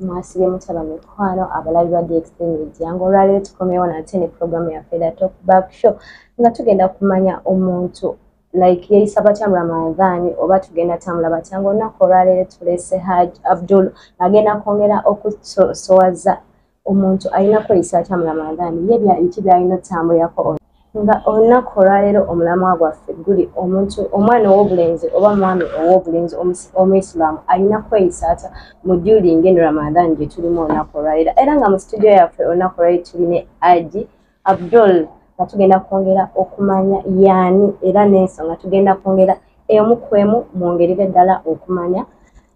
mwasibye mutaba mikwano abalabi ba dxtn ejjangu olwaleero tukomewo nate ne puroguramu yaffe da top back show nga tugenda kumanya omuntu like yeyisa batya muramadhani oba tugenda tambula batya nga olunaku olwaleero tulese haj abdul agenda kwongera okusowaza omuntu alina kweyisa atya muramadhani ye biki byalina otambulirako nga olunaku olwaleero omulamwa gwaffe guli omuntu omwana ow'obulenzi oba mwami ow'obulenzi omuisiramu alina kweyisa atya mu julinga eno ramadan gye tulimu olunaku olwaleero era nga mu situdio yaffe olunaku olwaleero tuli ne aji abdul nga tugenda kwongera okumanya yaani era n'ensonga tugenda kwongera emu ku emu mwongerere ddala okumanya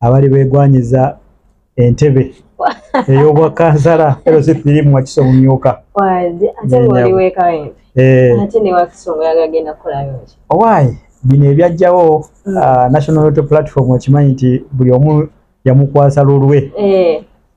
abali begwanyiza entebe eyobwa kansala erositirimu wakisa omumyuka owaayi eh. bino ebyajjawo mm. ah, national auto platform okimanyi nti buli omu yamukwasa lulwe eh.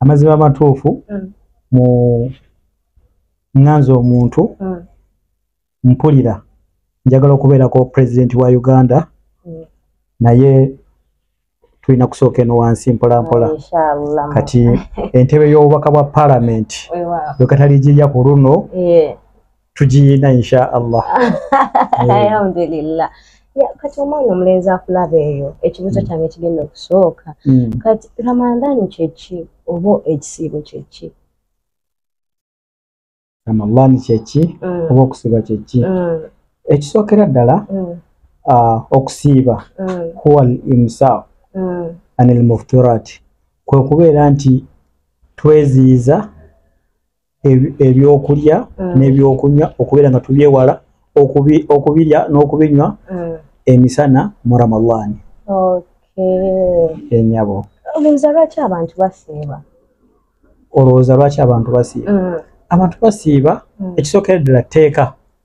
amazima amatuufu mm. mu nganza omuntu mm. mpulira njagala okubeerako pulezidenti wa uganda mm. naye tulina kusooka eno wansi mpolampola kati entebe y'obubaka bwa palamenti wekatali gijja ku luno tugiyina insha allah alhamdulillah kati omwana omulenzi akulaba eyo ekibuzo mm. kyange kigenda okusooka mm. kati ramadhani kyeki oba ekisiibo kyeki ramadhani kyeki mm. oba okusiiba kyeki ekisookera ddala ah, okusiiba huwa al imsaq an al mufturat kwekubeera nti tweziyiza ebyokulya mm. n'ebyokunywa okubeera nga tubyewala okubirya n'okubinywa mm. emisana mu ramadaani enyabo olowooza lwaki abantu basiiba olowooza lwaki abantu basiiba mm. abantu basiiba ekisookera ddala tteeka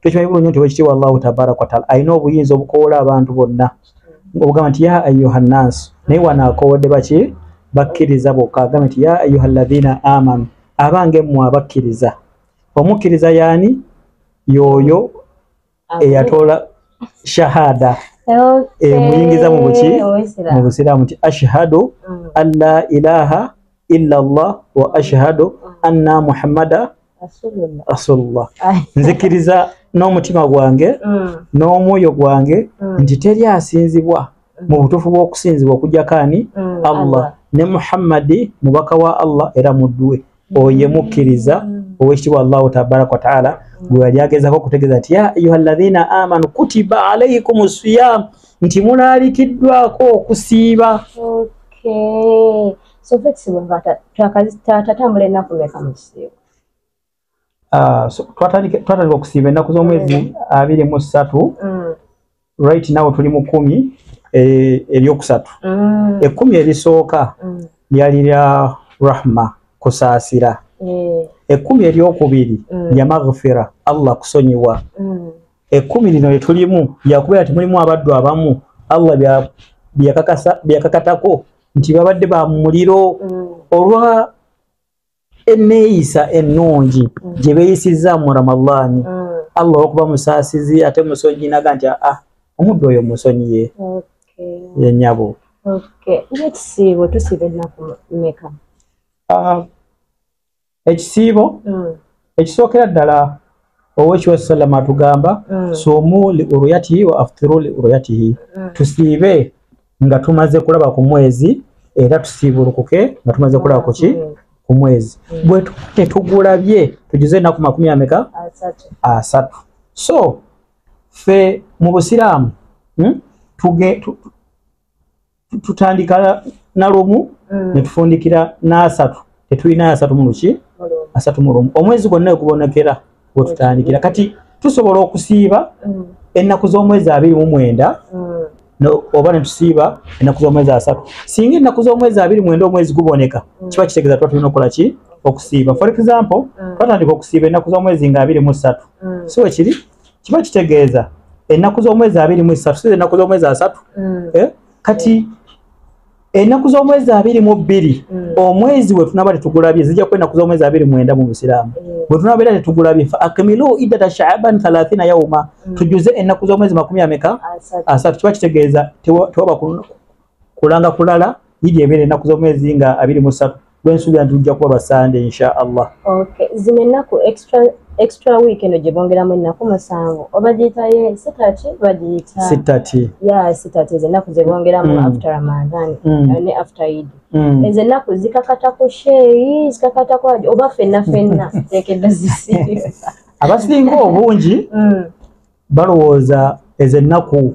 tukimanyi bulungi nti wekitiibwa allahu tabaraka wataala alina obuyinza obukoola abantu bonna obugamba nti ya ayuha nnansi naye wano akoodde baki bakkiriza bokka agamba nti ya ayuha llazina amanu abange mmwe abakkiriza omukkiriza yaani yooyo eyatoola shahada emuyingiza mu buki mu busiraamu nti ashhadu mm. an la ilaha illa llah wa ashhadu mm. anna muhammada asulullah nzikiriza n'omutima gwange mm. n'omwoyo gwange mm. nti teri asinzibwa mm. mu butuufu bw'okusinzibwa okujjako ani allah ne muhammadi mubaka wa allah era mudduwe oye mukkiriza owekitibwa allahu tabaraka wataala gwe yali agezako okutegeeza nti ya ayuha llahina amanu kutiba alaikum siyam nti mulaalikiddwako okusiiba so flexible nga twakatambula ennaku meka mu kisiibo ah, twatandika okusiiba ennaku z'omwezi mm. abiri mu ssatu mm. right now tuli mu kumi eh, eryokusatu mm. ekumi erisooka lyali lya rahma kusaasira eh. ekumi eryokubiri lya maghfira allah kusonyiwa ekumi lino lyetulimu lyakubeera temulimu abaddu abamu allah byakakatako nti babadde ba muliro mm. olwa eneeyisa ennungi mm. gye beeyisizza mu ramadaani mm. allah olwokuba musaasizi ate musonyi naga nti aa ah, omuddu oyo musonyiye yenyabo ekisiibo tusiba ennaku meka ah, ekisiibo mm. ekisookera ddala owekiwa salama atugamba mm. sumu li uruyatihi wa aftiru li uruyatihi mm. tusiibe nga tumaze kulaba ku mwezi era tusiibulukuke nga tumaze kulaba kuki mm. ku mwezi mm. bwe tetugulabye tujuze enaku makumi ameka asatu so fe mu busiraamu hmm? tutandika nalumu mm. netufundikira nasatu tetulina asatu muluki asatu mulumu omwezi gwonna wekubonekera wetutandikira kati tusobola okusiiba mm. ennaku z'omwezi abiri mu mwenda mm. oba netusiiba ennaku z'omwezi asatu singa ennaku z'omwezi abiri mwenda omwezi guboneka kiba kitegeeza tuba tulina okukola ki okusiiba for example twatandika okusiiba ennaku z'omwezi nga abiri mu ssatu si wekiri kiba kitegeeza ennaku z'omwezi abiri mu esatu si ennaku z'omwezi asatu mm. eh? kati ennaku z'omwezi abiri mu bbiri mm. omwezi we tunaba tetugulabye zijja kuba ennaku z'omwezi abiri mwenda mu busiraamu mm. bwe tunaba era tetugulabye fa akmilu iddata shaaban thalathina yauma tujuze ennaku z'omwezi makumi ameka asatu kiba kitegeeza tewaba kulanga kulala yidi ebeera ennaku z'omwezi nga abiri mu ssatu lwensuubira nti lujja kuba basande insha allah okay. zino ennaku extra extra week eno gyebongeramu ennaku musanvu obagiyitaye sitati bagiyita sitati ya sitati ezo ennaku zebongeramu mm. after ramadan mm. Eh, ne after id mm. ezo ennaku zikakata ku sheyi zikakata ku aji oba fenna fenna tekedda zisi abasinga obungi mm. balowooza ezo ennaku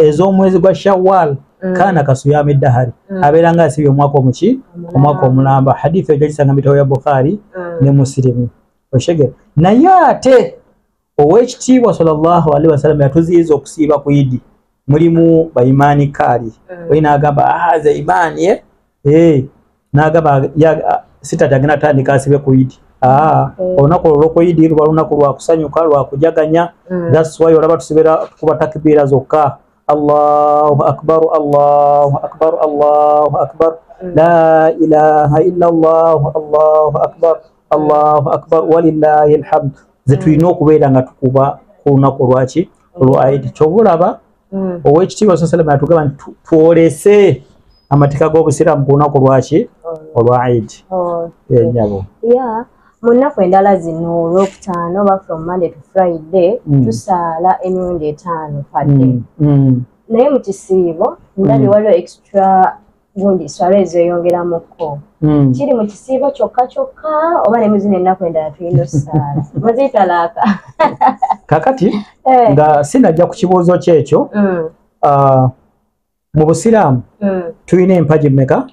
ez'omwezi gwa shawal mm. kaana kasuyama eddahari mm. abeera nga asibye omwaka omuki omwaka omulamba hadithu ejo kisanga mubitabo ya bukhari mm. ne musilimu oshegere naye ate owekitiibwa salllah alihi wasallam yatuziyiza okusiiba ku idi mulimu baimani kaali olina agamba ahaza ah, imaani e eh? eh nagaba ya sita tagina tani kasi be kuidi ah mm. ona ko loko idi ruba luna ko lwakusanyu ka lwa kujaganya mm. that's why olaba tusibera kuba takbira zokka Allahu akbar Allahu akbar Allahu akbar mm. la ilaha illa Allah Allahu akbar Allahu akbar walillahi alhamd zetu mm. ino kubera nga tukuba kuna ko lwachi lwa idi chobulaba mm. owekitiibwa sa salama yatugamba nti twolese amateeka g'obusiraamu ku lunaku lwaki oh. olwa idi oh, enyabo eh, mu nnaku endala zino olwokutaano oba from monday to friday mm. tusaala emirundi etaano padde mm, naye mu kisiibo ndabye waliwo extra gundi swala ezo eyongeramu ko hmm. kiri mu kisiibo kyokka kyokka oba ne muzina ennaku endala tulina osaala muzitalaaka kakati eh. nga sinajja ku kibuuzo kyekyo hmm. ah, mu busiraamu hmm. tulina empagi meka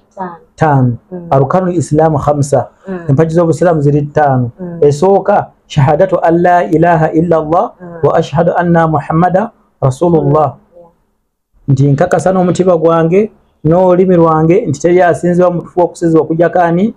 taano arukanu islaamu hamsa empagi z'obusiraamu ziri taano esooka shahadatu an la ilaha illa llah wa ashhadu anna muhammada rasulullah nti nkakasa n'omutima gwange n'olulimi lwange nti teri asinzibwa mutufu okusizibwa okujjako ani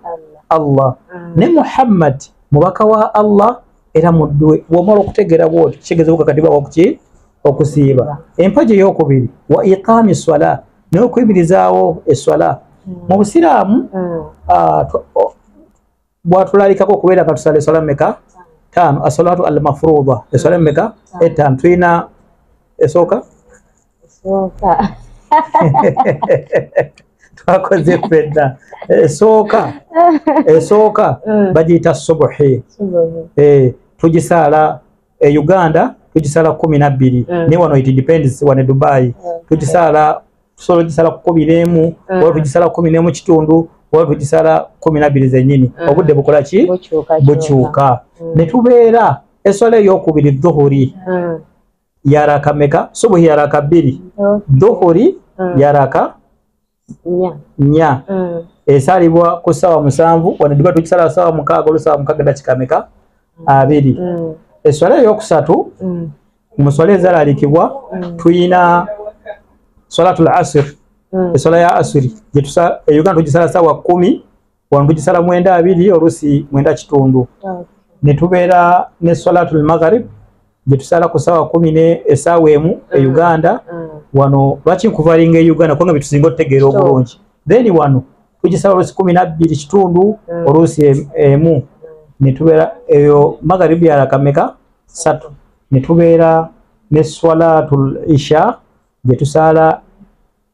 allah mm. ne muhammad mubaka wa allah era mudduwe bwomala okutegeera bwoti kitegeeza bukakatibwa okuki okusiiba empaji eyokubiri wa iqaami swala n'okuyimirizaawo eswala mm. mu busiraamu mm. ah, bwatulalikako okubeera nga tusala eswala meka taano asalatu al mafruda eswala meka etaano tulina esooka twakoze fedda esooka esooka mm. bagiyita subuhi eh, tugisaala e uganda tugisala kumi nabbiri mm. naye wano it depends wane dubai mm. tugisala tusobola tugisala kumi nemu mm. oba tugisala kumi nemu kitundu oba tugisala kumi nabbiri zenyini mm. obudde bukola ki bukyuka mm. ne tubeera eswala eyokubiri dhuhuri mm. yaraka meka subuhi yaraka bbiri okay. dhuhuri mm. yaraka nya mm. esalibwa ku sawa musanvu wano diba tukisala sawa mukaaga olusawa mukaaga dakikameka mm. abiri mm. eswala eyokusatu mm. muswala ezalalikibwa mm. tuyina swalatul asir mm. eswala ya asiri euganda tugisala sawa kumi wano tugisala mwenda abiri oluusi mwenda kitundu ne tubeera ne salatul magharib gye tusala ku saawa kumi ne esaawa emu e mm. uganda mm. wano lwaki nkuvalinga e uganda kubanga byetusinga otutegeera obulungi then wano tugisala oluusi kumi nabbiri kitundu mm. oluusi emu ne tubeera eyo magharib yalakameka satu ne tubeera ne salatul isha gye tusaala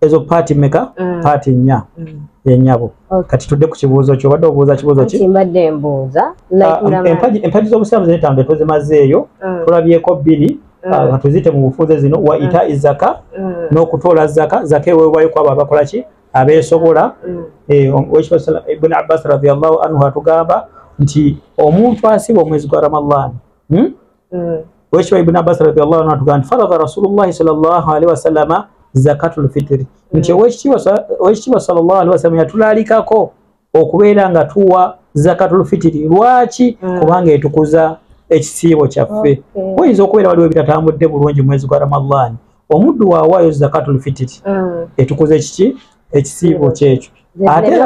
ezo paati meka mm. paati nnya mm. yenyabo kati tudde ku kibuuzo kyo obadde obuuza kibuuzo ki mbadde mbuuza ah, empaji empaji z'obusiraamu zino etambe tuzimazeeyo mm. tulabyeko bbiri ah, nga tuzite mu bufuuze zino wa ita izaka n'okutoola zaka zaka eweebwayo kwabo abakola ki abeesobola eh, ibn abbas radiallahu anhu atugamba nti omuntu asiba omwezi gwa ramadhan hmm? Mm. wekitiibwa ibuni abbas radiallahu anhu atugamba nti faradha rasulullahi salllahu alihi wasallama zakatul fitiri nti owekitiibwa sa- owekitiibwa salllahu alihi wasallama yatulalikako okubeera nga tuwa zakatul fitiri lwaki Mm. kubanga etukuza ekisiibo kyaffe Okay. oyinza okubeera waliwo ebitatambudde bulungi mu mwezi gwa ramadhan omuddu waawaayo zakatul fitiri mm. etukuza ekiki ekisiibo kyekyo ate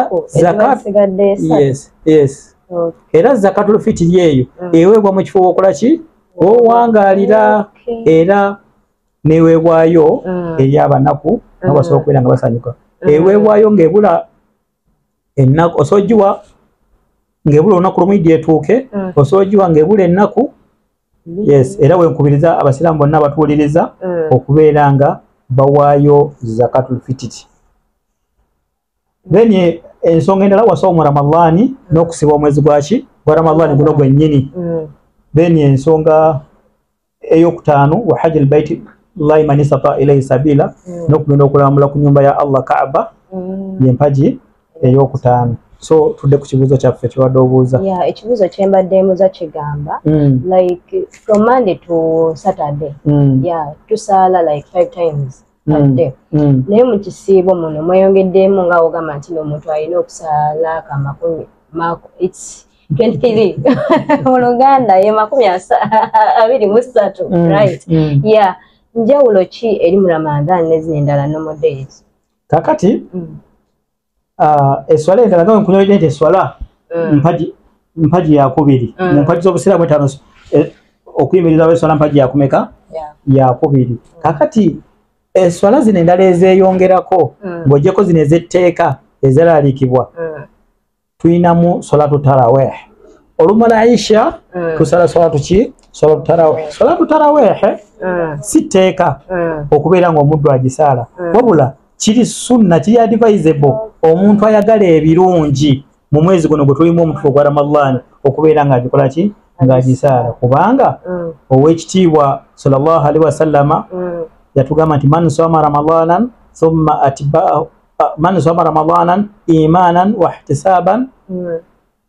era zakatul fitiri eyo mm. eweebwa mu kifo wokola ki owangalira era neweebwayo mm. eri abanaku nga basobola okubeera nga basanyuka eweebwayo ngaebula ennaku osobola ogiwa ng'ebula olunaku lumu idi etuuke mm. osobola ogiwa ng'ebula ennaku yes era wenkubiriza abasiraamu bonna abatuwuliriza mm. okubeera nga bawaayo zakatulfititi then eh, ensonga endala wasoomu ramadaani n'okusiba omwezi gwaki gwa ramadaani guno gwennyini mm. then ensonga eyokutaano wa haji albaiti llahi man istata ilaihi sabila mm. nokugenda okulambula ku nyumba ya allah kaaba mm. yempagi eyokutaano so tudde ku kibuuzo kyaffe kyobadde obuuza yeah, ekibuuzo kyembadde muza kigamba mm. like from monday to saturday mm. yeah, tusaala like five times badde mm, mm. naye mu kisiibo muno mweyongeddeemu nga ogamba nti noomuntu alina okusala ka makumi its 23 mu luganda ye makumi abiri mu ssatu mm, right ya njawulo ki eri mu ramadhan nezina endala nomodays kakati Ah, eswala endala nga nkunyolede nti eswala mm. mpagi mpagi yakubiri mm. mu mpagi z'obusiraamu etaano eh, okuyimirirawo eswala mpagi yakumeka yakubiri kakati eswala eh, zino endala ezeyongerako mm. ng'ogyeko zino ez'etteeka ezeraliikibwa tulinamu solatu taraweh olumala aisha tusala solatu ki solatu taraweh solatu tarawehe si tteeka okubeera ng'omuddu agisaala wabula kiri sunna kiri advisable omuntu ayagala ebirungi mu mwezi guno gwe tulimu omutufu ogwa ramadhan okubeera ng'agikola ki ng'agisaala kubanga mm. ow'ekitiibwa salllah alihi wasallama mm. yatugamba nti man soma ramadanan thumma atbaahu man soma ramadanan imanan wahtisaban mm.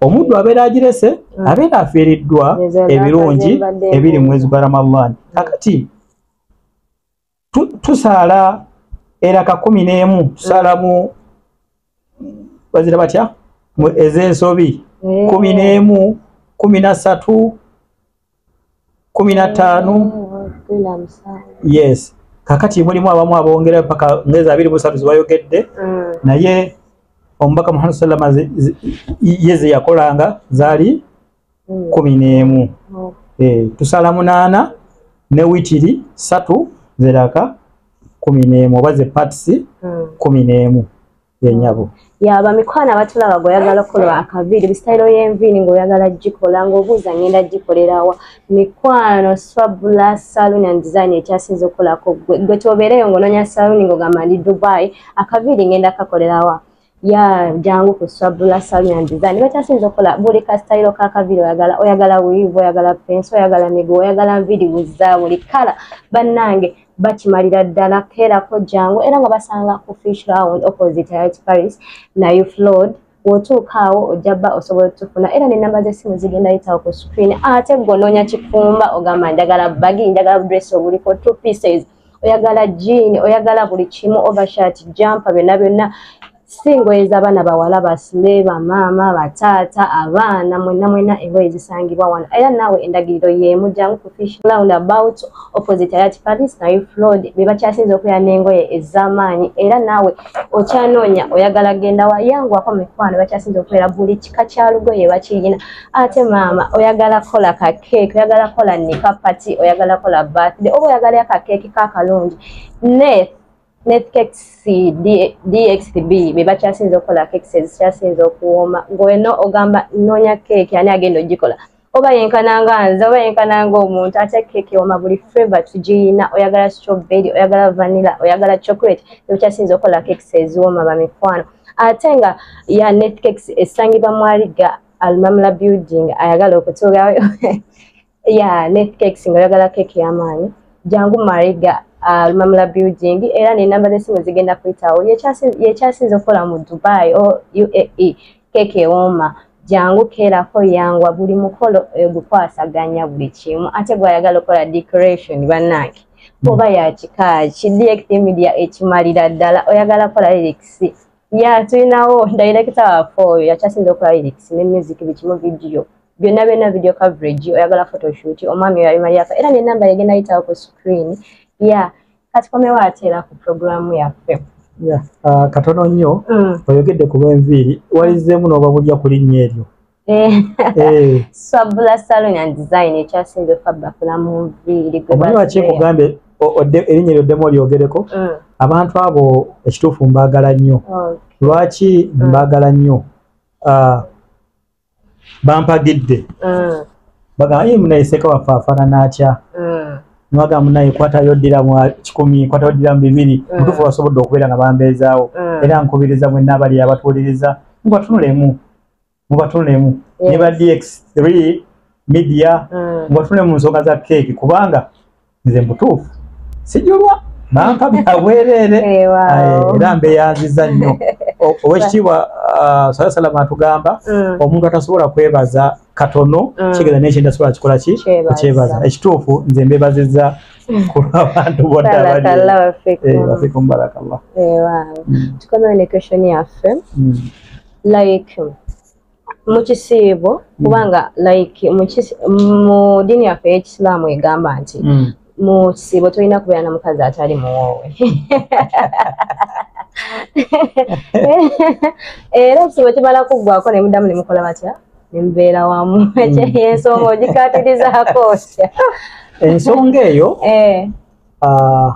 omuddu abeera agirese mm. abeera afiiriddwa ebirungi ebiri mu mwezi gwa ramadhan mm. kakati tusaala era kakumi n'emu mm. tusaalamu bazira batya ez'ensobi kumi n'emu kumi na ssatu kumi na ttaano yes kakati mulimu abamu abongera paka ngeza abiri busatu zibayogedde mm. naye omubaka muhammad sallama ye zeyakolanga zaali mm. kumi n'emu oh. eh, tusala munaana ne witiri satu zeraka kumi n'emu oba ze patisi mm. kumi n'emu yenyabo yaba mikwano abatulaba gweoyagala okukola akaviiri bisitayiro y'enviiri ng'oyagala gikola ng'obuuza ngenda gikolerawa mikwano swabula saloon and design ekyasinza okukolako gwe gwe kyobeereyo ng'onoonya saloon ng'ogamba ndi dubai akaviiri ngenda kakolerawa ya jangu ku swabula saloon and design bakyasinza okukola buli kasitayiro k'akaviiri oyagala oyagala wiivu oyagala pensi oyagala miguwa oyagala nviiri wuzza buli kala bannange bakimalira ddala keerako jangu era nga basanga ku fish round opposite rit paris nayo flood wotuukaawo ojja bba osobola otufuna era nenamba zesimu zigenda yitawo ku screen ate gwononya kifumba ogamba njagala bagi njagala dress obuliko two pieces oyagala jean oyagala buli kimu overshirt jampa byonna byonna si ngoye z'abaana bawala basule bamaama bataata abaana mwena mwena engoye zisangibwa wano era naawe endagiriro yeemu jangu ku fish round about opposite ayati paris nayo flood be bakyasinza okubeera n'engoye ez'amaanyi era naawe okyanoonya oyagala genda wa yangwako mikwano bakyasinza okubeera buli kika kya lugoye bakiyina ate maama oyagala kola ka keeki oyagala kola nika pati oyagala kola birthday oba oyagala akakeeki kakalungi ne ne kekisi dxb be bakyasinza okukola kekisi ezikyasinza okuwooma ngweno ogamba noonya keeki ani agenda ogikola oba yenkana nga nze oba yenkana nga omuntu ate keeki ewooma buli feva tugiyina oyagala strawberry oyagala vanilla oyagala chocolate ebikyasinza okukola kekisi eziwooma bamikwano ate nga ya net kekisi esangibwa mwaliga almamula building ayagala okutuulayo ya ne cake singa yagala cake ya maani jangu mariga uh, lumamula building era ne namba ze simu zigenda kuyitawo yekyasinze okukola mu dubai o uae cake ewoma jangu keerako yangwa buli mukolo egukwasaganya eh, buli kimu ate gwayagala okukola decoration banange oba yakikaaki dxmedia ekimalira ddala oyagala kola lirikisi ya tulinawo dayirekita waffe oyo yakyasinza okola lyrics ne music bikimu vidiyo byonna byonna video coverage oyagala photoshoot omwami oyo alimaliyaka era nenamba yegenda yitawo ku screen ya kati komewo ateera ku programu yaffe ah, katono nnyo mm. oyogedde ku lwenviiri walizeemu n'obabulya ku linnya eryo Eh. Eh. swabula salon and design ekyasinze fabba fulamuviiri omanyi wakyekugambye erinnya lyoddemu olyogereko mm. abantu abo ekituufu mbaagala nnyo lwaki mm. mbaagala nnyo ah, bampagidde mm. bagamba ye munayeseka waffe afaanana atya nwaga munaye kwatayo ddira mu kikumi kwatayo ddira mu bibiri mutuufu basobodde okubeera nga bambeezaawo era nkubiriza mwenna abali abatuuliriza nkubatunulemu mubatunulemu ne ba dx3 media mm. mubatunule mu nsonga za keeki kubanga nze mutuufu sijulwa bampa byabwereere era mbeyanziza nnyo owekitiibwa uh, sala salama atugamba mm. omuntu atasobola kwebaza katono mm. kigeza nekintu asobola kikola ki okyebaza ekituufu nze mbebaziza kulwabantu bonabafikum barakallah tukomewo ne question yaffe like mu kisiibo mm. kubanga like mu dini yaffe eyekisiraamu egamba nti mm. mu kisiibo tolina kubeera na mukazi atali muwoowe era ekisiibo kimala kuggwako ne muddamu ne mukola batya ne mubeera wamu mm. ekyeyensonga ogikatirizaako otya ensonga eyo eh. ah,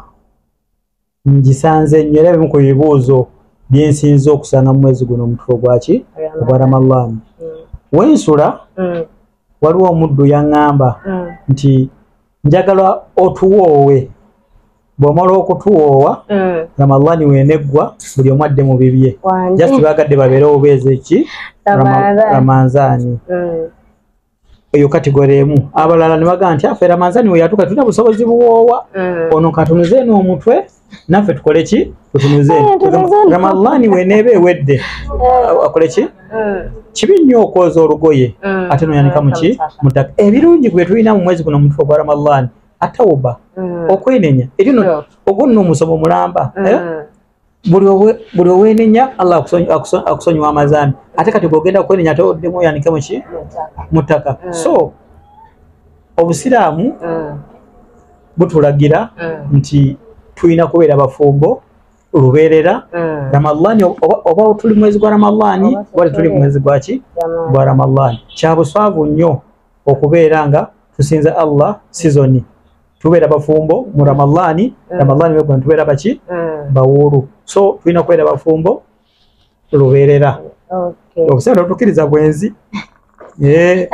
ngisanze nnyo era bimu ku bibuuzo byensinza okusanga mu mwezi guno omutufu ogwaki ogwa ramalaani mm. wensula mm. waliwo omuddu yaŋŋamba mm. nti njagala otuwoowe bw'omala okutuwoowa ramalaani weneggwa buli omu adde mu bibye just baagadde babeere obubeezi ki ramanzaani eyo kategore emu abalala ne bagamba nti afera manzani we yatuka tulina busobozi buwoowa mm. ono katunuze eno omutwe naffe tukole ki tutunuze ramadhani we neeba ewedde mm. akole ki mm. kibi nnyo okwoza olugoye ate noyanika muki mudaka ebirungi gwe tulina mu mwezi guno omutwe ogwa ramadhani atawuba okwenenya erino ogwo nno omusomo mulamba eh? buli owenenya allah akusonyiwa amazambi ate kati gogenda kwenenya ate oddemu oyanike muki mu ttaka mm. so obusiraamu mm. butulagira mm. nti tulina kubeera bafumbo lubeerera ramadhani oba tuli mwezi gwa ramadhani oba tetuli mwezi gwaki gwa ramadhani kyabuswavu nnyo okubeera nga tusinza allah sizoni tubeera bafumbo mu ramadaani mm. ramadaani wekuna tubeera baki mm. bawuulu so tulina kubeera bafumbo lubeerera okusera otukiriza bwenzi eh.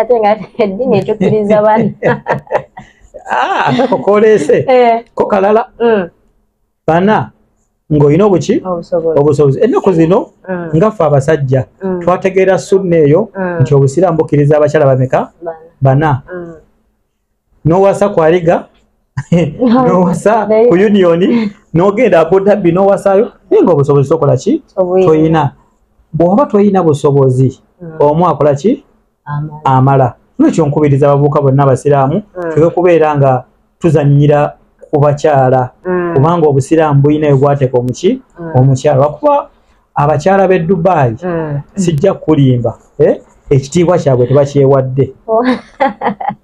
ah, atako koleese eh. ko kalala mm. bana ng'olina obuki obusobozi ennaku zino ngaffe abasajja twategeera sunna eyo nti obusiraamu bukkiriza abakyala bameka bana nowasa kwaliga nowasa ku union nogenda abudabi nowasayo naye nga obusobozi tokola ki toyina bwoba toyina busobozi hmm. omu akola ki amala lwekyo nkubiriza abavubuka bonna abasiraamu hmm. tuwe kubeera nga tuzanyira ku bakyala hmm. kubanga obusiraamu bulina ebwateeka omuki omukyala lwakuba abakyala b'e dubayi mm. sijja kukulimba eh? ekitiibwa kyabwe tebakyewadde oh.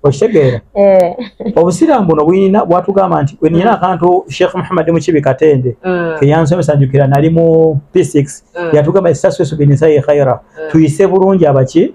okitegeera eh. obusiraamu buno buyina bwatugamba nti wenina mm. akantu sheikh muhammad mukibi katende mm. keyansomesa njukira nali mu p6 yatugamba esaswesubinisai khaira tuyise bulungi abaki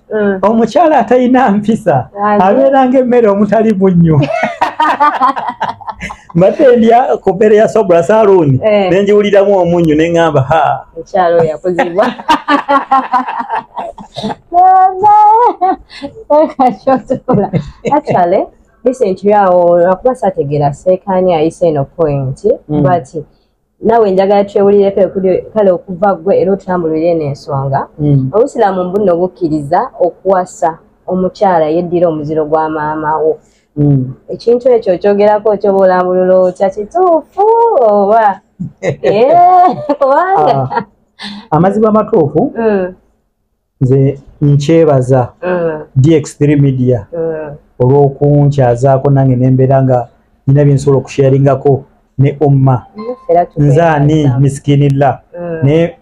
Mm. omukyala atalina mpisa abeera ngaemmere omutali bunnyo mbadde ndya ku mmere ya sobula saluuni eh. ne ngiwuliramu omunnyu ne ŋŋamba ha mukyalo yakuzibwa actually listen to you awo akuba sategera seekaani ayise eno point mm. but nawe njagala twewulireko ekuli kale okuva gwe era otambulire eno ensonga hmm. obusiraamu mbuno obukkiriza okuwasa omukyala yeddira omuziro gwa maama wo hmm. ekintu ekyo okyogerako okyoba olambulula otya kituufu oba eh, kubanga ah, amazima amatuufu hmm. nze nkyebaza mm. dx3 media mm. olwokunkyazaako nange nembeera nga nina byensobola okusharingako ne omma nze ani misikinillah mm. naye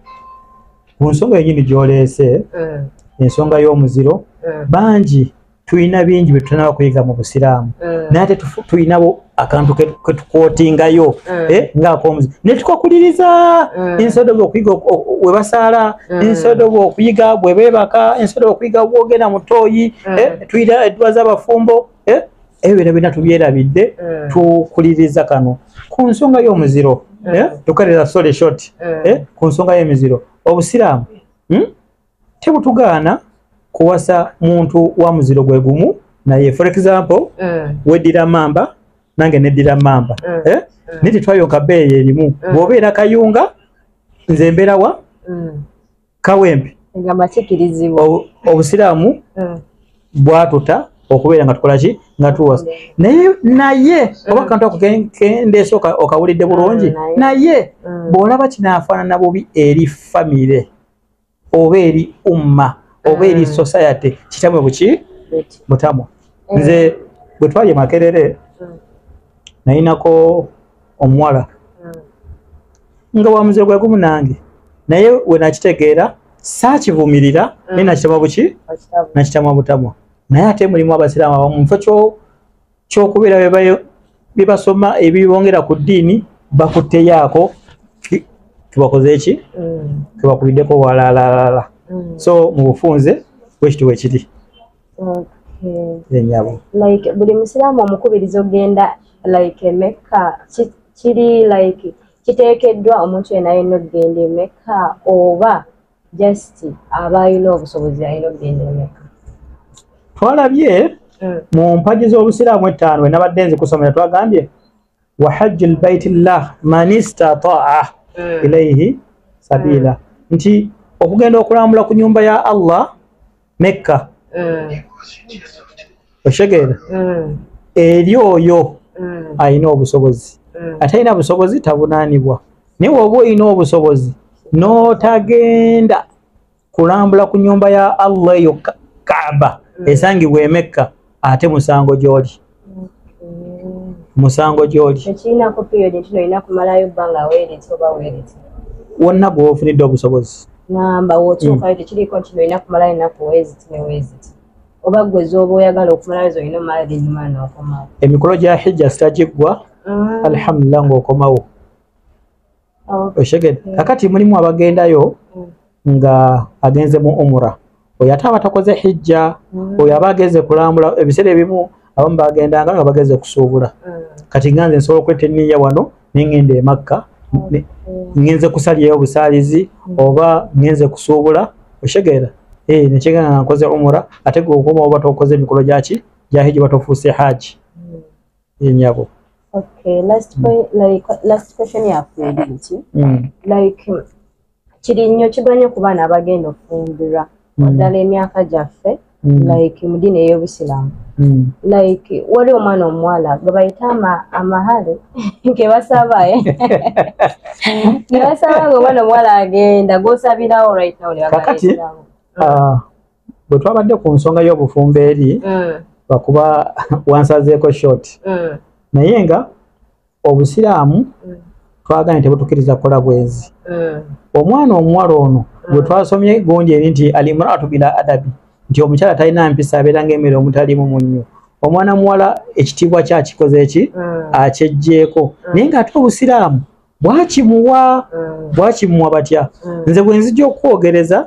ku nsonga yenyini gyoleese ensonga y'omuziro bangi tulina bingi bye tutanaba kuyiga mu busiraamu mm. naye ate tulinabo akantu ketukwotingayo mm. eh, ngaakomuzi ne tukakuliriza mm. instead of okuyiga we basaala instead of okuyiga bwe beebaka instead of okuyiga bwogenda mu tooyi eh, tulina edduwa z'abafumbo eh, ebyo bino byonna tubyerabidde tukuliriza kano ku nsonga y'omuziro tukalira sole short ku nsonga y'emiziro obusiraamu hmm? tebutugaana kuwasa muntu wa muziro gwe gumu naye for example mm. weddira mamba nange neddira mamba mm. eh? mm. naye tetwayonka beeyi erimu mm. bw'obeera kayunga nze mberawa mm. kawempe obusiraamu mm. bwatuta okubeera nga tukola ki nga tuwasa naye naye mm. oba kantu akendeesa okawulidde bulungi mm, naye mm. bw'olaba kinaafaanana bubi eri famire oba eri umma oba eri mm. society kitamwe buki mutamwa mm. nze bwe twali makerere mm. nayinako omuwala nga wamuze gwe gumu nange naye wenakitegeera saakivumirira naye nakitamwa buki nakitamwa butamwa naye ate mulimu abasiraamu abamu mufo kyo kyokubera bebasoma ebibongera ku ddiini bakuteyaako tubakoze eki tubakubiddeko mm. walalala mm. so mu bufunze bwekiti wekiri enyabo like buli musiraamu omukubiriza ogenda like emekka kiri like kiteekeddwa omuntu yena yenna okugenda emekka oba just aba alina obusobozi alina okugenda emeka twalabye hmm. mu mpagi z'obusiraamu ettaano we nabadde nzi kusomera twagambye wa hajju lbaiti llah man istataa hmm. ilaihi sabiila hmm. nti okugenda okulambula ku nyumba ya allah mekka mm. okitegeera mm. eri oyo mm. alina obusobozi mm. atalina busobozi tabunaanibwa naye woba olina obusobozi n'otagenda kulambula ku nyumba ya allah eyo kaaba mm. esangibwa emekka ate musango gyoli musango gyoli wonna gwofunidde obusobozi namba wotuukayo hmm. tekiriko nti nolina kumalayo enaku weziti neweziti oba gwe zoba oyagala okumalayo zolina omala enyuma nokomawo emikolo gya hijja sitagiggwa ah. alhamdulillah ngaokomawo Mm. kakati mulimu abagendayo mm. nga agenze mu umura oyo ate aba takoze hijja mm. oyo aba agenze kulambula ebiseera ebimu abamu bagendanga nga bagenze kusuubula kati nganze nsobola okweta eniya wano nengenda emakka ngenze kusalyayo obusaalizi oba ngenze kusuubula okitegeera eh, nekyegana nga nkoze umura ate gwe okuba oba tokoze emikolo gyaki gyahijja oba tofuuse haaji yenyabo okay last mm. point like last question ya kweli nti mm. like kiri nnyo kigwanye ku baana abagenda okufumbirwa mm. naddala emyaka gyaffe mm. like mu ddiini ey'obusiraamu mm. like wali omwana omuwala gwe bayita amahale kebasaba eh? nebasaba nga omwana omuwala agenda gwosabirawo right now nebagaaakati ah, bwe twabadde ku nsonga y'obufumbo eri mm. lwakuba wansazeeko short mm. naye nga obusiraamu mm. twagane tebutukiriza kukola bwenzi omwana omuwala ono gwe twasomye gungi eri nti alimraatu bila adabi nti omukyala talina mpisa abeera ngaemere omutalimu munnyo omwana muwala ekitiibwa kyakikoze eki akyejjeeko naye ngaate obusiraamu bwakimuwa bwakimuwa batya nze bwe nzija okukwogereza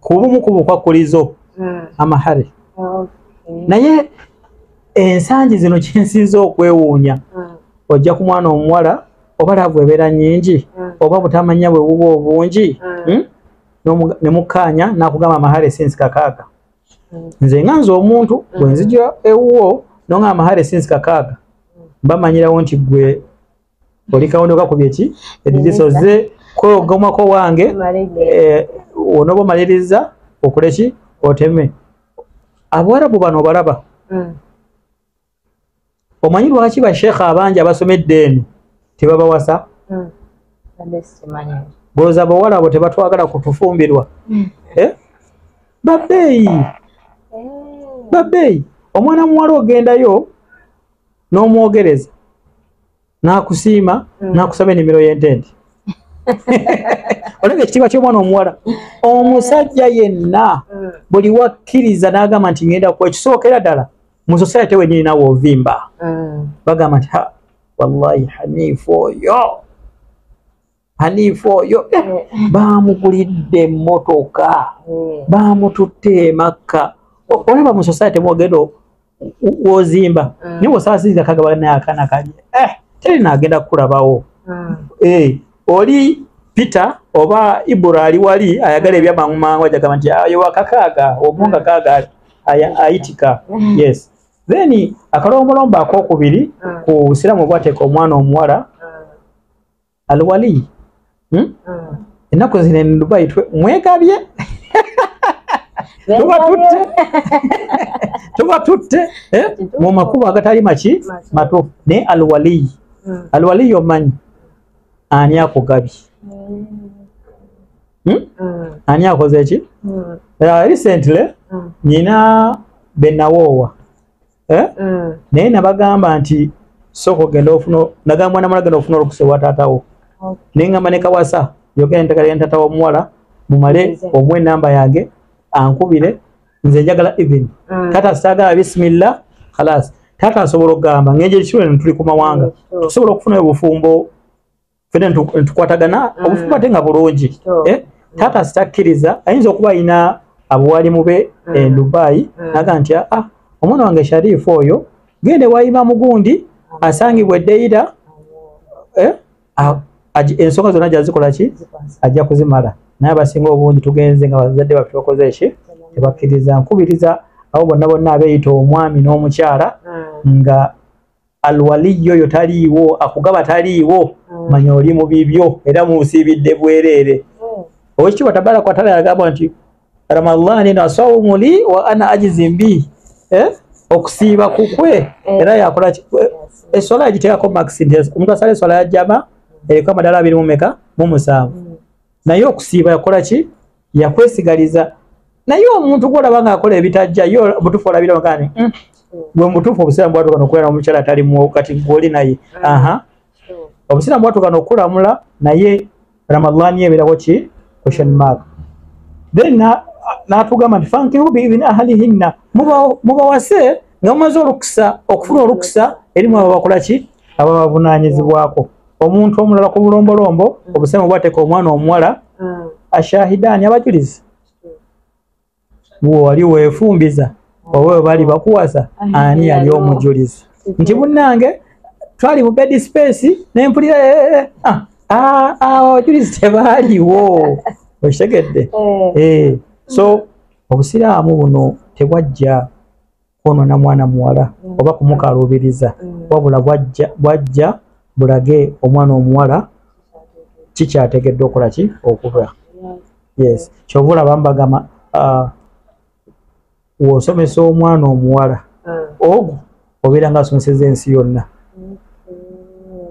kubumu ku bukwakkulizo hmm. amahare naye ensangi zino kyensinza okwewuunya hmm. ojja ku mwana omuwala oba laavu ebeera nyingi hmm. oba butamanya bwe buba obungi hmm? ne mukkaanya n'akugamba amahare sinsi kakaaga nze nga nze omuntu bwe nzija ewuwo nonga amahare sinsi kakaaga mbamanyirawo nti gwe oli kawondo kakubye ki edidiso ze kwogomako wange eh, onoba omaliriza okuleki oteme abawarabu bano obalaba mm. omanyi lwaki bashekha abangi abasomedde eno tebabawasa mm. bwoza bawala abo tebatwagala kutufumbirwa mm. eh? babeeyi eh. babeeyi omwana muwala ogendayo n'omwogereza n'akusiima mm. n'akusaba enimiro y'entente olaba ekitiibwa ky'omwana omuwala omusajja yenna mm. buli wakkiriza n'agamba nti ngenda ku ekisookera ddala mu sosayate wenyini nawe ovimba mm. bagamba nti ha wallahi haniifu oyo haniifu oyo eh, eh. baamugulidde emmotoka hmm. baamututte emakka olaba mu society mwogenda wozimba hmm. niwe osaasiriza kagaba naye akaana kalye eh, teri naagenda kukulabawo hmm. oli peter oba ibura ali wali ayagala ebyamangu mangu ajagamba nti ayo ah, wakakaaga omunga kaaga ayitika yes then akalombolombo akokubiri ku busiraamu obwateeka omwana omuwala alwali hmm? ah. ennaku zino en dubai mwegabye tubatutte tubatutte eh? mu makubo agatali maki matuufu naye alwaliyi hmm. alwaliyi omanyi ani akugabye hmm. Hmm? Hmm. ani akoze ki recently nyina benawoowa eh? mm. naye nabagamba nti sooka ogenda ofuna nagamba mwana mwana genda ofuna olukusa ewa taatawo okay. naye ngamba ne kawasa yogera ntegala yantata womuwala mumale omu enamba yange ankubire nze njagala even mm. tata sagala bisimilla khalas tata asobola okugamba ngenje ekisulo netuli ku mawanga tusobola okufunayo obufumbo fena ntukwatagana mm. obufumbo ate nga bulungi eh? taata sitakkiriza ayinza okuba ayina abuwalimu be mm. e dubai mm. naga nti ah, ah omwana wange sharifu oyo gende wayima mugundi asangibwa edeyira eh? ensonga zonna gyazikola ki ajja kuzimala naye abasinga obungi tugenze nga bazadde baffe bakoze eki tebakkiriza nkubiriza abo bonna bonna abeyita omwami n'omukyala nga alwaliyi oyo taliiwo akugaba taliiwo mm. manya oli mu bibyo era munsiibidde bwereere mm. owekitiibwa tabaraka watala yagamba nti ramadhan eno asawumu li wa ana ajizi mbi eh? okusiiba kukwe mm. era yakola eh, eswala yagiteekako maxi nti omuntu asala eswala yajama eriko amadala abiri mumeka mumusanvu naye okusiiba yakola ki yakwesigaliza naye omuntu gwolaba nga akola ebitajja yo obutuufu olabira ogani mm. gwe mubutuufu obusiraamu bwatuuka nokubeera omukyala atali mu kati gwoli naye mm. aha obusiraamu bwatuuka nokulamula naye ramadhani ebeerawo ki question mark then natugamba nti fankihu biibini ahalihinna mubawase nga mumaze olukisa okufuna olukisa erimu abo bakola ki abo babavunanyizibwako omuntu omulala ku bulombolombo mm. obusemu bwateka omwana omuwala mm. ashahidani abajulizi bwewali wefumbiza mm. oba webali bakuwasa ani yali omujulizi nti munange twali mu bedi space nempulira eh, eh, eh, ah, ah, ah, abajulizi tebaliwo okitegedde so obusiraamu buno tebwajja kwonona mwana muwala mm. oba kumukaluubiriza mm. wabula bwajja bulage omwana omuwala kikyategedde okola ki okuba yes kyova olaba mbagamba uh, wosomesa omwana omuwala mm. ogwo obeera nga asomeseza ensi yonna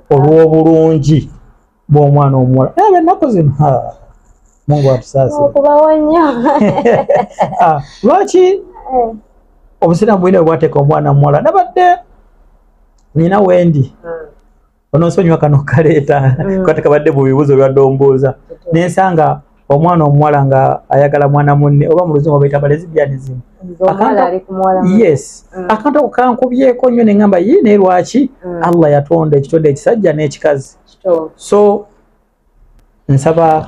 olw'obulungi bw'omwana omuwala naye abennaku zino mungu atusaasirekubawo nnyo ah, lwaki eh. obusiraamu bwina bwebwateeka omwana muwala nabadde nina wendi hmm. ononsonyiwa kano kaleeta hmm. kati kabadde mu bibuuzo bibadde ombuuza nensanga omwana omuwala nga ayagala mwana munne oba muluzungu obaita balezibyanism yes mm. akantu ako kankubyeko nnyo neŋamba yi naye lwaki mm. allah yatonda ekitonde ekisajja n'ekikazi so nsaba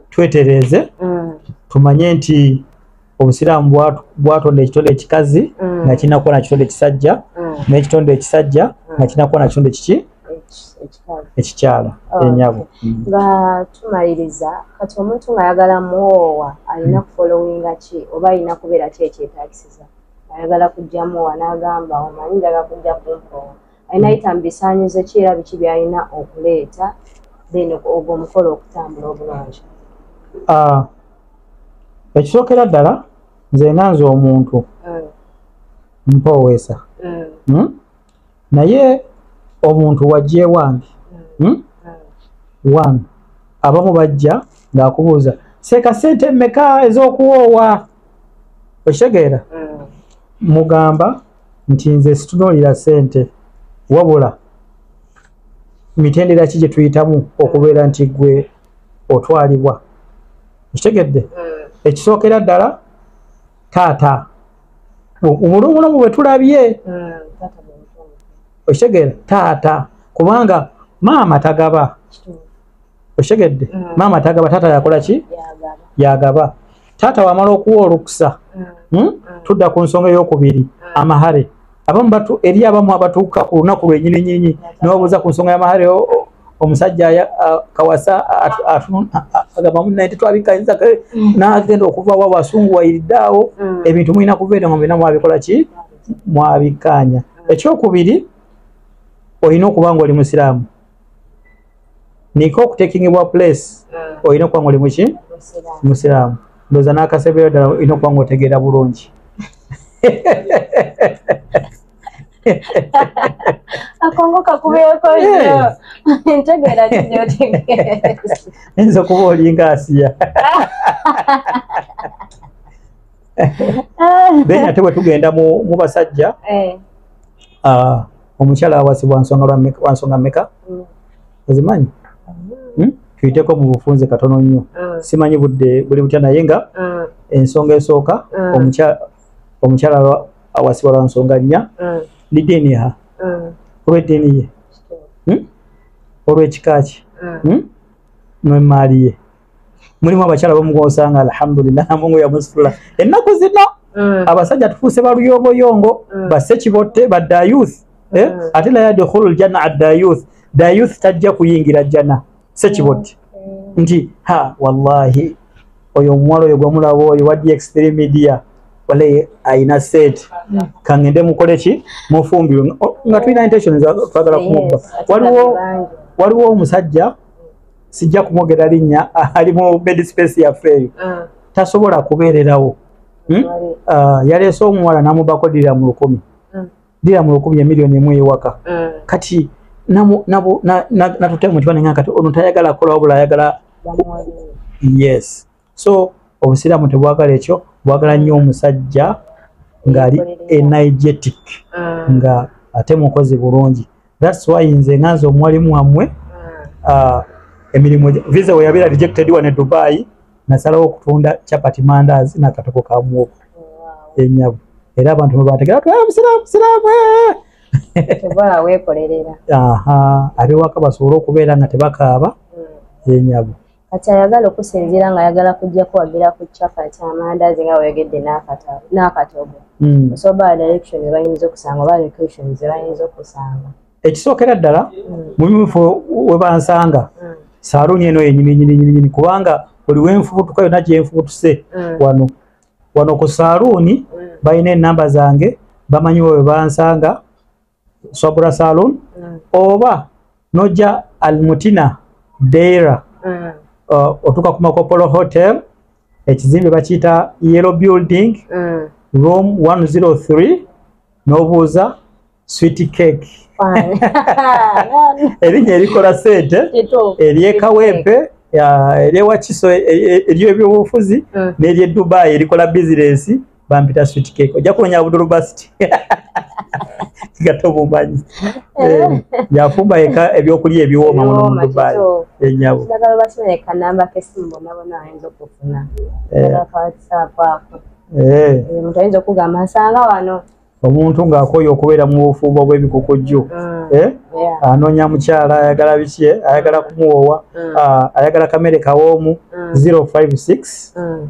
twetereeze mm. tumanye nti obusiraamu bwatonda ekitonde ekikazi mm. nga kirina kuba na kitonde ekisajja mm. n'ekitonde ekisajja nga kirina kuba na kitonde kiki ekikyala oh, enyabo nga tumaliriza kati omuntu ngaayagala muwoowa alina kufolowinga ki oba alina kubeera ki ekyetagisiza ayagala kujjamuwa n'agamba omanyi njaga kujja kumpoowa ayinayita mu bisaanyizo ki era biki byalina okuleeta then ogwo omukolo okutambula obulungi ah, ekisookera ddala nze nga nze omuntu mm. mpooweesa mm. hmm? naye omuntu wajjewange mm. hmm? one abamu bajja ng'akubuuza seeka sente meka ez'okuwoowa okitegeera mugamba nti nze situnuulira sente wabula mitendera ki gye tuyitamu okubeera nti gwe otwalibwa ekitegedde eh. ekisookera ddala taata obulumulumu bwe tulabye okitegere eh, taata kubanga maama tagaba okitegedde eh. maama tagaba taata yakola ki yagaba taata wamala okuwa olukusa mm. hmm? mm. tudda ku nsonga eyokubiri mm. amahare abamu batu eri abamu abatuuka ku lunaku lwenyini nyinyi nibabuuza ku nsonga yamahare omusajja kawasa agamba mu nayete twabikayinza mm. nagenda okuva wa wasungu wayiriddeawo mm. ebintu mulina kuva eno mubina mwabikola ki mwabikanya ekyokubiri olina okuba nga oli musiraamu nika okutekingibwa place ah. olina okuba ngaoli muki musiraamu ndoza n'akasebera ddala olina okuba nga otegeera bulungi akongo kakubeeko ntegeera nyinza okuba olinga asiya then ate bwe tugenda mu basajja eh. ah, omukyala awasibwa nsonga lwa meka wa nsonga meka Mm. ozimanyi Hmm? tuyiteko mu bufunze katono nnyo Mm. simanyi budde buli butya naye nga Mm. ensonga esooka Mm. omukyala omukyala lwa- awasibwa lwa nsonga nnya Mm. lidiini ha Mm. olw'eddiini ye Kituufu. Hmm? olw'ekika kye Mm. Hmm? n'emmaali ye mulimu abakyala bamugosanga alhamdulillah mungu yamusitula ennaku zino mm. abasajja tufuuse baluyoboyongo mm. basse kibotte badda youth eh? mm. ate la yadkhulu ljanna adda youth da youth tajja kuyingira jjana se kibotte nti ha wallahi oyo omuwala oyo gwamulaba oyo wa dx3 media wale ayina set kangende mukole ki mufumbirwe nga tulina intention twagala kumubba waliwo waliwo omusajja sijja kumwogera linnya ali mu bed space yaffe eyo ah. tasobola kubeererawo hmm? ah, yaleese omuwala namubako dira mu lukumi hmm. dira mu lukumi emiliyoni emu ewaka hmm. kati natutemu nti banenga kati ono tayagala kolawo bula ayagala yes so obusiraamu tebwagala ekyo bwagala nnyo omusajja ngaali energetic ah. nga ate mukozi bulungi thats why nze nganze omuwalimu wamwe ah. ah, emirimu visa weyabeera rejected wane dubai nasalawo okutunda chapati mandazi nakatoko ka muwogo enyabu era abantu mwebategera twa ah, musiraamu siraamu eh! tebala wekolerera aha abewaka basobole okubeera nga tebakaaba hmm. enyabu kati ayagala okusinziira nga ayagala kujja kuwagira ku chapati amandazi nga weyogedde n'akatogo hmm. osoba direction ebayinza okusanga oba location zebayinza okusanga ekisookera ddala hmm. mu bimufo webansanga hmm. saaluuni eno yenyininyininyini kubanga buli wenfubutuka yona gyenfubutuse wano wano ku saaluuni balina enamba zange bamanyi webansanga sabura salon mm. oba noja almutina deira mm. uh, otuka ku makopolo hotel ekizimbe bakiyita yellow building mm. room 103 nobuuza sweet cake erinnya erikola sente eryekawempe eryewakiso eryebyobufuzi mm. neryedubaayi erikola bizinesi bampita sweet cake ojja kunonya budulu basti nga tobumanyi eh, yafumba yeka ebyokulya ebiwooma muno mu dubai enyabo omuntu ng'akooye okubeera mu bufumbo bw'ebikukujju mm. eh? anoonya mukyala ayagala biki eh? ayagala kumuwoowa mm. ah, ayagala kamere kawoomu 056 mm.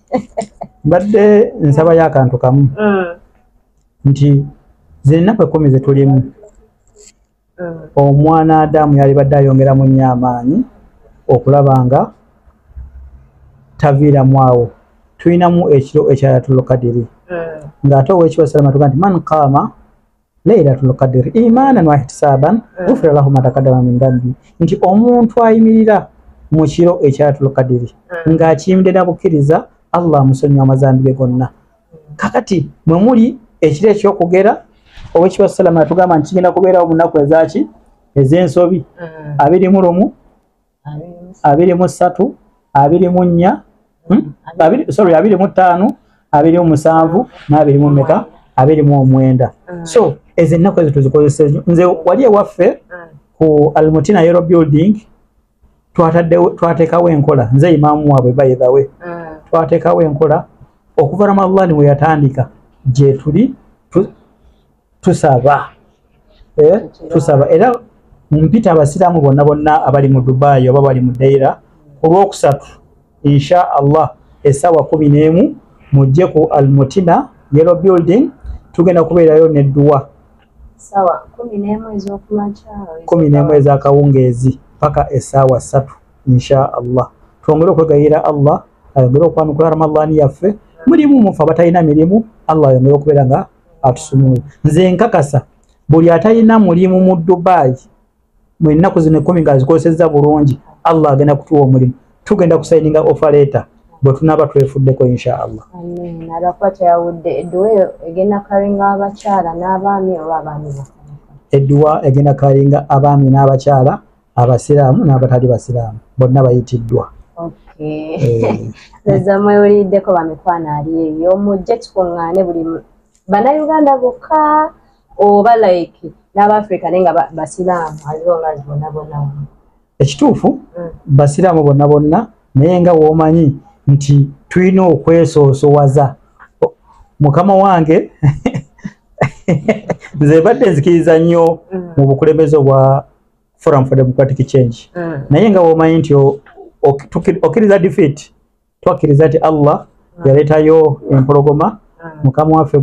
mbadde nsabayo akantu kamu mm. nti zennaku ekkumi zetulimu mm. omwana adamu yalibadde ayongera mu nnyo amaanyi okulaba nga taviiramu awo tulinamu ekiro ekyayatulukadiri mm. ng'ate owekibwa salama tuga nti man kaama lailatul qadiri imanan wahtisaban mm. gufira lahu matakadama min dhanbi nti omuntu ayimirira mu kiro ekyatul qadiri mm. ng'akiyimide na bukkiriza allah amusonyiwa amazambi ge gonna mm. kakati mwe muli ekiro ekyokugera owekiba salama yatugamba nti kigenda kubeerawo mu nnaku ezaki ez'ensobi abiri mu lumu abiri mu ssatu abiri mu nnya hmm? sorry abiri mu ttaano abiri mu musanvu n'abiri mu meka abiri mu omwenda mm. so ezo ennaku ezo tuzikozesa enyo nze wali ewaffe mm. ku almutina yero building twatekawo enkola nze imaamu waabwe bayidhawe mm. twatekawo enkola okuva ramadhani weyatandika gyetuli tusaba eh, tusaba era mpita abasiraamu bonna bonna abali mu dubayi oba bali mu daira olwokusatu insha allah esaawa kumi n'emu mujje ku almutina yellow building tugenda kubeerayo nedduwa kumi n'emu ezakawungeezi paka esaawa satu insha allah twongere okwegayira allah ayongere okwanukula ramadhani yaffe mulimu mufe abatalina mirimu allah ayongere okubeera nga atusumule nze nkakasa buli atalina mulimu mu dubai mu ennaku zino ekkumi nga azikozesezza bulungi allah agenda kutuwa omulimu tugenda kusayininga ofa leeta bwe tunaaba twefuddeko inshaallah edduwa egenda kalinga abaami n'abakyala abasiraamu n'abatali basiraamu bonna bayitiddwa eza eh. mwewuliddeko bamikwano ali eyo mujje tukuŋŋaane buli bannayuganda bokka oba like n'abaafrika naye nga basiraamu aliwo nga bona bona ekituufu mm. basiraamu bonna bonna naye nga womanyi nti tulina okwesoosowaza mukama wange nze badde nzikiriza nnyo mm. mu bukulembeze obwa forum for democratic change mm. naye nga womanyi nti okkiriza defeat twakkiriza ti allah mm. yaleetayo empologoma mm. mukama waffe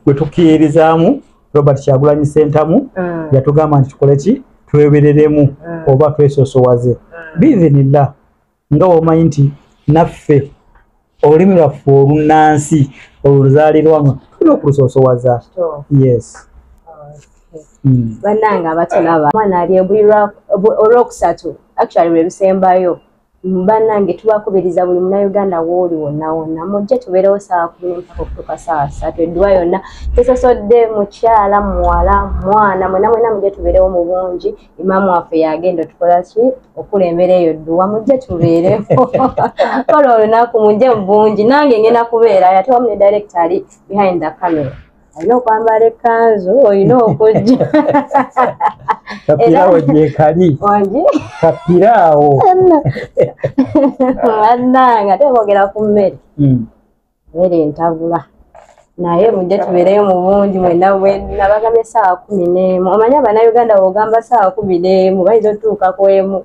gwe tukiirizaamu robert kyagulanyi sentamu mm. yatugamba nti tukole ki twebereremu mm. oba twesosowaze mm. biizinillah nga womanyi nti naffe olulimi lwaffe olunnansi oluzaalirwamu tulina okulusoosowaza yes hmm. bannange abatulaba mwana ali ebulirwa olwokusatu actually lwe lusembayo bannange tubakubiriza buli munauganda wooli wonna wonna mujje tubeerewo saawa kumi nempaka okutuuka saawa satu edduwa yonna tesosodde mukyala muwala mwana mwena mwena mujje tubeerewo mu bungi imaamu waffe yagenda otukola ki okulembera eyo dduwa mujje tubeereko kola olunaku mujje mubungi nange ngenda kubeerayo ate wamu ne directo ali behind the camera olina okwambala ekanzu olina okujja kapirawo gyekali wangi kapirawo annanga tebogera ku mmere hmm. mere ntabula naye mujje tubeereyo mu bungi mwena bwena bagambe esaawa kumi n'emu omanyi abanauganda wogamba saawa kumi n'emu bayinza otutuuka ku emu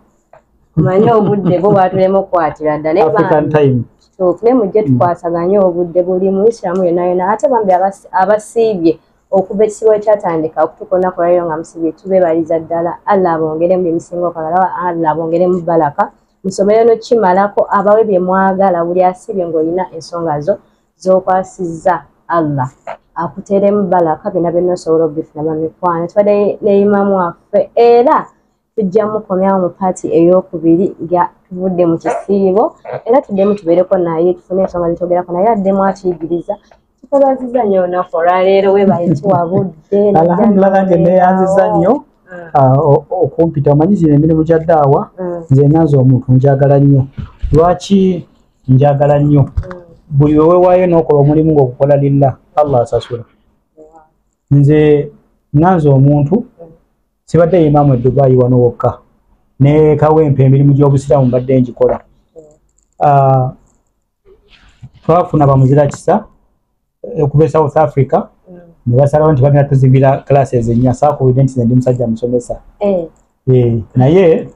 omanyi obudde bwo bwatulema okukwatira dda nayekituufu naye mujje tukwasaganye obudde buli muisiramu yona yona ate bambi abasiibye okuva ekisibo ekyatandika okutuuka olunaku lwaliro nga musiibye tubebaliza ddala allah abongere mu bimusinga okwagala allah abongere mu balaka musomero nokimalako abawe bye mwagala buli asibye ng'olina ensonga zo z'okwasizza allah akuteeremu balaka byonna byonna osobola okubifuna bamikwano tubadde ne imamu waffe era tujja mukomyawo mu paati ey'okubiri nga tuvudde mu kisiibo era tuddemu tubeereko naye tufune ensonga zetogerako naye addemu atuyigiriza tukubaziza nnyo olunaku olwaleero webaye tuwabudde alhamdulillah nange neyanziza nnyo mm. ah, okumpita omanyi zino emirimu gya daawa mm. nze nanze omuntu njagala nnyo lwaki njagala nnyo mm. buli wewewaayo nokola omulimu ngaokukola lilla allah asasula nze nanze omuntu sibadde yimaamu edubayi wano wokka nekawempa emirimu gyobusiraamu mbadde ngikola ah, twafuna bamuzira kisa eh, okuva e south africa mm. ne basalawo nti bagenda tuzimbira classes ennya saakubide nti zendi musajja musomesa eh. Eh, naye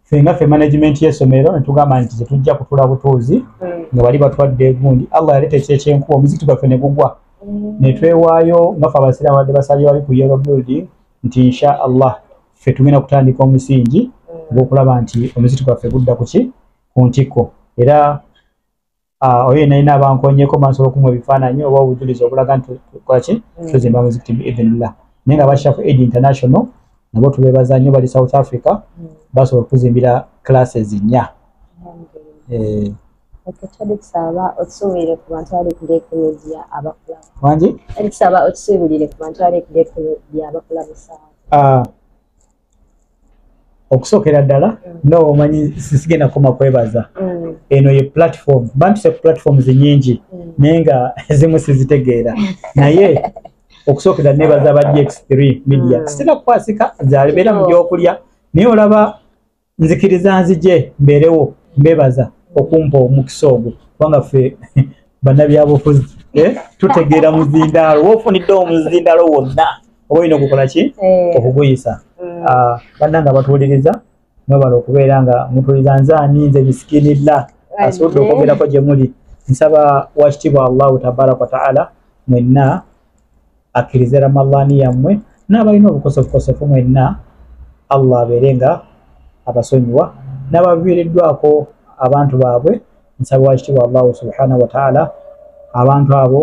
fenga fe management y'essomero ne tugamba nti tetujja kutula butuuzi mm. nga bali batwadde egundi allah yaleeta ekiro ekyenkuba omuzikiti gwaffe ne gugwa mm. ne twewaayo nga fe abasiraamu badde basalira wali ku yero building nti insha allah fe tugenda kutandika omusingi ogw'okulaba nti omuzikiti gwaffe gudda ku ki ku ntikko era oyo yenayina abankonyeko mansobola okumuwa ebifaananyi oba obujulizi obulaga nti kwaki mm. tuzimba muzikiti biidhinillah naye nga bashafu aid international nabo tubebaza nnyo bali south africa mm. basobola okutuzimbira classes nnya eh. wangi ah. okusookera ddala mm. nawe omanyi sisigenda koma kwebaza mm. eno ye platform bantuse ku platforms nyingi mm. naye nga ezimu sizitegeera naye okusookera nebaza ba dx3 media sitera kukwasika zabeera mu byokulya naye olaba nzikiriza nzije mbeerewo mbebaza okumpa omukisa ogwo kubanga ffe bannabyabufuzi eh, tutegeera muzindaalo wofunidde omuzindaalo wonna oba olina okukola ki eh. okuguyisa mm. ah, bannanga abatuwuliriza mwebala okubeera nga mutuwuliriza nze ani nze misikinilla asobodde okwogerako gye muli nsaba wakitiibwa allahu tabaraka wataala mwenna akkirize ramallani yammwe n'abalina obukosofukosofu mwenna allah abeere nga abasonyiwa n'abaviiriddwako abantu baabwe nsaba wakitiibwa allahu subhanahu wataala abantu abo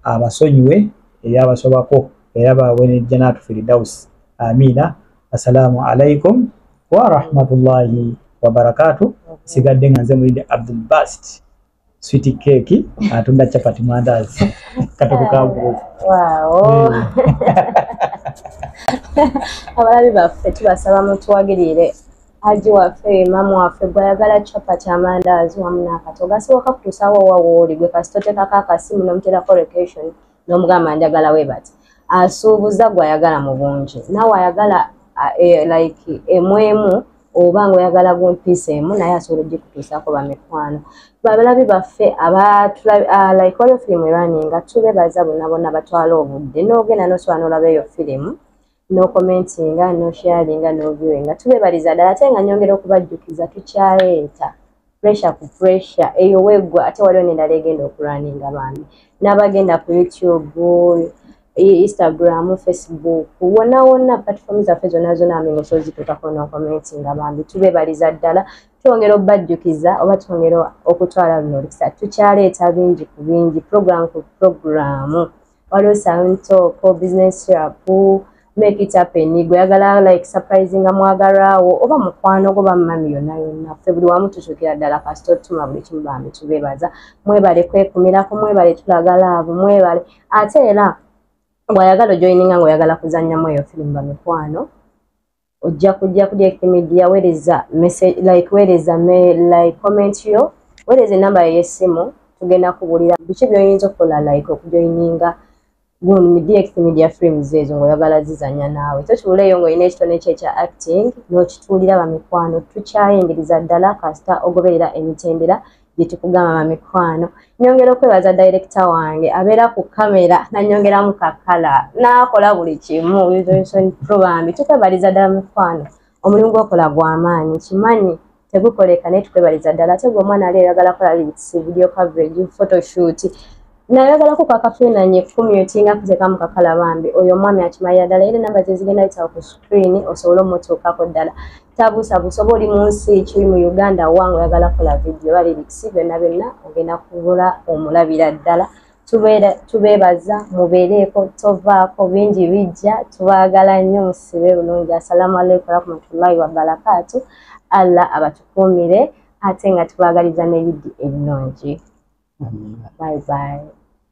abasonyiwe ebyabasobako era bawe ne janatu firidaus amiina assalamu alaikum warahmatullahi wabarakatu sigadde nga nze mulidde abdul bast switi keeki atunda capati mwandazi katokokabuuzi abalabi baffe tubasaba mutuwagirire haji waffe imamu waffe gwe ayagala chapati amandaazi wamu n'akato gasoboka kutuusawo owa wooli gwe kasita oteekako akasimu n'omuteerako location n'omugamba njagala we bati asuubuza gwe ayagala mu bungi naawe ayagala e, like emu emu oba ngaoyagala gumpiisa emu naye asobola ogikutuusaako bamikwano babalabi baffe abalike olyo firimu erwaninga tubebaza bona bona batwala obudde n'ogenda nosobola n'olaba eyo firimu no commentinga no sharinga no viewinga tubebaliza ddala ate nga nyongera okubajjukiza tukyaleeta pressure ku pressure eyo weggwa ate waliwo nendala egenda okulwaninga bambi n'abagenda ku youtube instagram facebook wona wonna platform zaffe zonna zona amengo so zituukako no commentinga bambi tubebaliza ddala twongera obajjukiza oba twongera okutwala luno olukisa tukyaleeta bingi ku bingi program ku programu waliwo santoko business rapu make it happen gweyagala like surprising amwagalwawo oba mukwano gwo bamumami yonna yonna ffe buli wamu tukyukira ddala kasita otuma buli kimu bambi tubebaza mwebale kwekumirako mwebale tulagala abo mwebale ate era bwayagala ojoininga ngaoyagala kuzanyamu eyo firimu bamikwano ojja kujja ku direct media wereza message like wereza me like comment yo wereza enamba yo yesimu tugenda kubulira biki byoyinza okukola like okujoininga gundi mu direct media frames ezo ngaoyagala zizanya naawe so kibuleeyo ngaolina ekitone kye ekya acting nokituulira bamikwano tukyayingiriza ddala kasita ogoberera emitendera gyetukugamba mamikwano nyongera okwebaza direkita wange abeera ku kamera nanyongeramu kakala nakola buli kimu bambi tukwebaliza ddala mikwano omulimu gwokola gwamaanyi kimanyi tegukoleka naye tukwebaliza ddala ate gwe omwana ali oyagala kola litsi video coverage photoshoot nayagala ku kwakafiinanye kumyutinga kuteka mu kakala bambi oyo omwami akimalira ddala era enamba zezigenda yitawo ku screen osobole omutuukako ddala tabuusabuusa oba oli mu nsi kiri mu uganda wange oyagala kola vidiyo oba lirikisi byonna byonna ogenda kubula omulabira ddala tubeebaza mubeereeko tovaako bingi bijja tubaagala nnyo musibe bulungi assalamu aleikum warahmatullahi wabarakaatu allah abatukuumire ate nga tubaagaliza ne yiddi ennungi bye bye